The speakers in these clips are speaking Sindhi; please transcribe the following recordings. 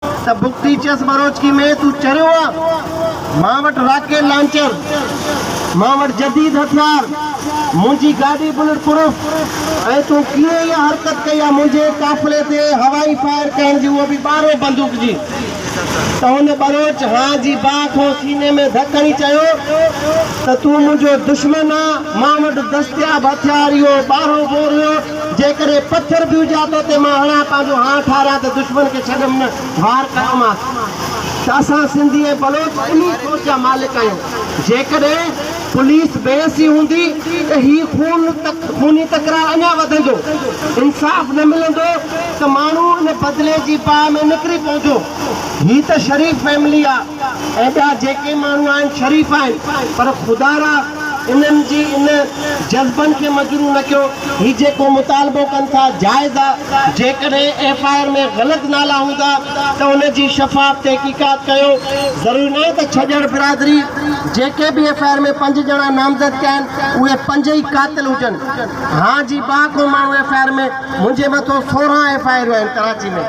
ته بگٽي چيس ٻروچڪي ۾ تون چريو آ، مان وٽ راڪيل لانچر، مان وٽ جديد هٿيار، منهنجي گاڏي بلٽ پروف ۽ تون ڪيئن اها حرڪت ڪئي آ منهنجي قافلي تي هوائي فائر ڪرڻ جي اهو به ٻارهو بندوق جي ته هن ٻروچ ها جي باء کان سيني ۾ ڌڪ هڻي چيو ته تون منهنجو دشمن آ مان وٽ دستياب هٿيار اهو ٻارهو بور هيو جيڪڏهن پٿر به هجا تو تي مان هڻان پنهنجو هان ٺاريان ته دشمن کي ڇڏم نه، وار ڪيومانس ته اسان سنڌي ۽ بلوچ انهي سوچ جا مالڪ آهيون، جيڪڏهن پوليس بي حسي هوندي ته هي خون خوني تڪرار اڃا وڌندو، انصاف نه ملندو ته ماڻهو ان بدلي جي باهه ۾ نڪري پوندو، هي ته شريف فيملي آ. ايڏا جيڪي ماڻهو آهن شريف آهن پر خدا را انهن جي ان جذبن کي مجروح نه ڪيو. هي جيڪو مطالبو ڪن ٿا جائز آ. جيڪڏهن ايف آء آر ۾ غلط نالا هوندا ته ان جي شفاف تحقيقات ڪيو. ضروري ناهي ته ڇڄڻ برادري جيڪي به ايف آء آر ۾ پنج ڄڻا نامزد ڪيا آهن اهي پنج ئي قاتل هجن. هان جي ٻا ڪو ماڻهو ايف آء آر ۾. منهنجي مٿو سورهن ايف آء آريون آهن ڪراچي ۾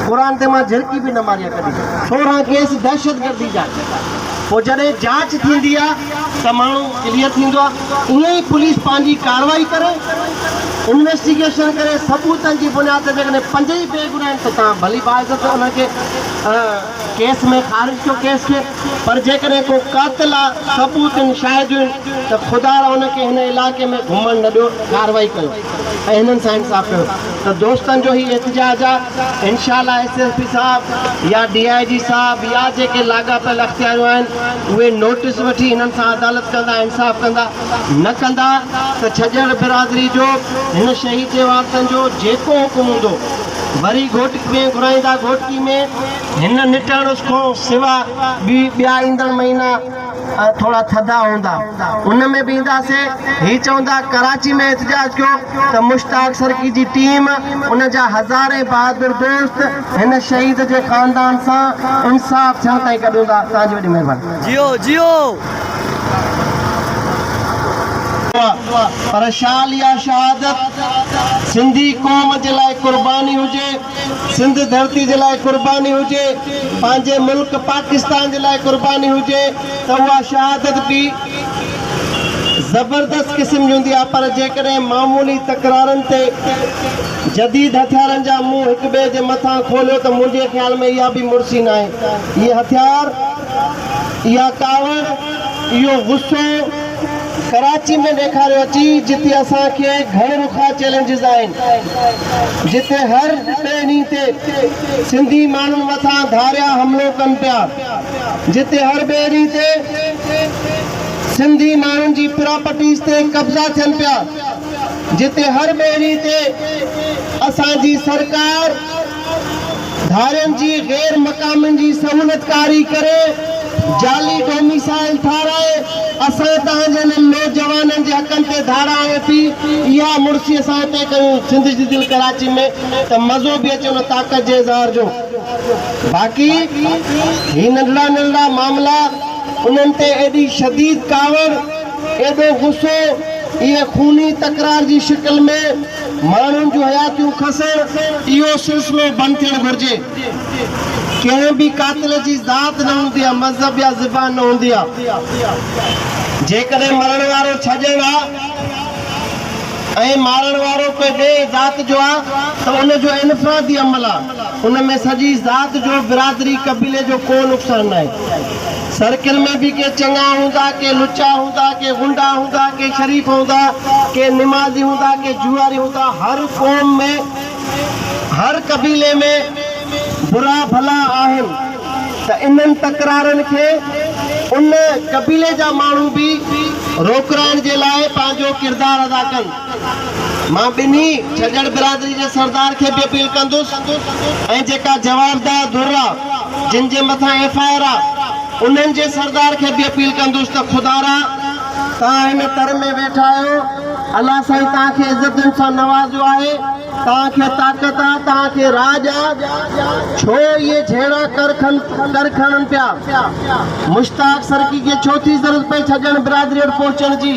قرآن تي مان جهرڪي به نه ماري آ ڪڏهن. سورهن ڪيس دهشتگردي جا پوء جڏهن جاچ ٿيندي آ ته ماڻهو ڪليئر ٿيندو آ ائين ئي پوليس پنهنجي ڪارروائي ڪري انويسٽيگيشن ڪري ثبوتن جي بنياد تي جيڪڏهن پنج ئي بي گناهه آهن ته توهان ڀلي باعزت انهن کي ڪيس ۾ خارج ڪيو ڪيس کي پر جيڪڏهن ڪو قاتل آ ثبوت آهن شاهديون آهن ته خدا را ان کي هن علائقي ۾ گهمڻ نه ڏيو ڪارروائي ڪيو. ۽ هنن سان انصاف ڪيو ته دوستن جو هي احتجاج آ انشاء الله ايس ايس پي صاحب يا ڊي آئي جي صاحب يا جيڪي لاڳاپيل اختياريون آهن اهي نوٽس وٺي هنن سان عدالت ڪندا انصاف ڪندا نه ڪندا ته ڇڄڻ برادري جو هن شهيد جي وارثن جو جيڪو حڪم هوندو وري گهوٽڪي ۾ گهرائيندا گهوٽڪي ۾ هن نٽ هڻس کون سوا ٻيا ايندڙ مهينا ٿورا ٿڌا هوندا ان ۾ به اينداسي هي چوندا ڪراچي ۾ احتجاج ڪيو ته مشتاق سرڪي جي ٽيم ان جا هزارين بهادر دوست هن شهيد جي خاندان سان انصاف ٿيڻ تائين گڏ هوندا توهان جي وڏي مهرباني. پر شال يا شهادت سنڌي قوم جي لاء قرباني هجي. سنڌ ڌرتي جي لاء قرباني هجي، پنهنجي ملڪ پاڪستان جي لاء قرباني هجي ته اها شهادت به زبردست قسم جي هوندي آهي پر جيڪڏهن معمولي تڪرارن تي جديد هٿيارن جا منهن هڪ ٻئي جي مٿان کوليو ته منهنجي خيال ۾ اها به مڙسي ناهي. اهي هٿيار. اها ڪاوڙ، اهو غصو ڪراچي ۾ ڏيکاريو اچي جتي اسان کي گهڻ رخا چئلينجز آهن، جتي هر ٽئين ڏينهن تي سنڌي ماڻهن مٿان ڌاريا حملو ڪن پيا، جتي هر ٻئي ڏينهن تي سنڌي ماڻهن جي پراپرٽيز تي قبضا ٿين پيا، جتي هر ٻئي ڏينهن تي اسان جي سرڪار، ڌارين جي غير مقامين جي سهولتڪاري ڪري جعلي ڊوميسائل ٺاهرائي اسان تهان جي انهن نوجوانن جي حقن تي ڌاڙا هڻي ٿي اها مڙسي اسان اتي ڪيون سنڌ جي دل ڪراچي ۾ ته مزو به اچي ان طاقت جي اظهار جو باقي هي ننڍڙا ننڍڙا معاملا انهن تي ايڏي شديد ڪاوڙ ايڏو غصو اهي خوني تڪرار جي شڪل ۾ ماڻهن جون حياتيون کسڻ اهو سلسلو بند ٿيڻ گهرجي. ڪنهن به قاتل جي ذات نه هوندي آهي، مذهب يا زبان نه هوندي آهي. جيڪڏهن مرڻ وارو ڇڄڻ آهي ۽ مارڻ وارو ڪنهن ٻئي ذات جو آهي ته ان جو انفرادي عمل آهي، ان ۾ سڄي ذات جو، برادري، قبيلي جو ڪو نقصان ناهي. سرڪل ۾ به ڪي چڱا هوندا، ڪي لچا هوندا، ڪي غنڊا هوندا، ڪي شريف هوندا، ڪي نمازي هوندا، ڪي جوئاري هوندا. هر قوم ۾، هر قبيلي ۾ برا ڀلا آهن ته انهن تڪرارن کي ان قبيلي جا ماڻهو به روڪرائڻ جي لاء پنهنجو ڪردار ادا ڪن. مان ٻنهي ڇڄڙ برادري جي سردار کي به اپيل ڪندس ۽ جيڪا جوابده ڌر آ جن جي مٿان ايف آء آر آ انهن جي سردار کي به اپيل ڪندس ته خدارا توهان هن تر ۾ ويٺا آهيو الله سائين توهان کي عزتن سان نوازيو آهي توهان کي طاقت آ توهان کي راڄ آ ڇو اهي جهيڙا ڪر ڪر کڻن پيا مشتاق سرڪي کي ڇو ٿي ضرورت پئي ڇڄڙ برادري وٽ پهچڻ جي.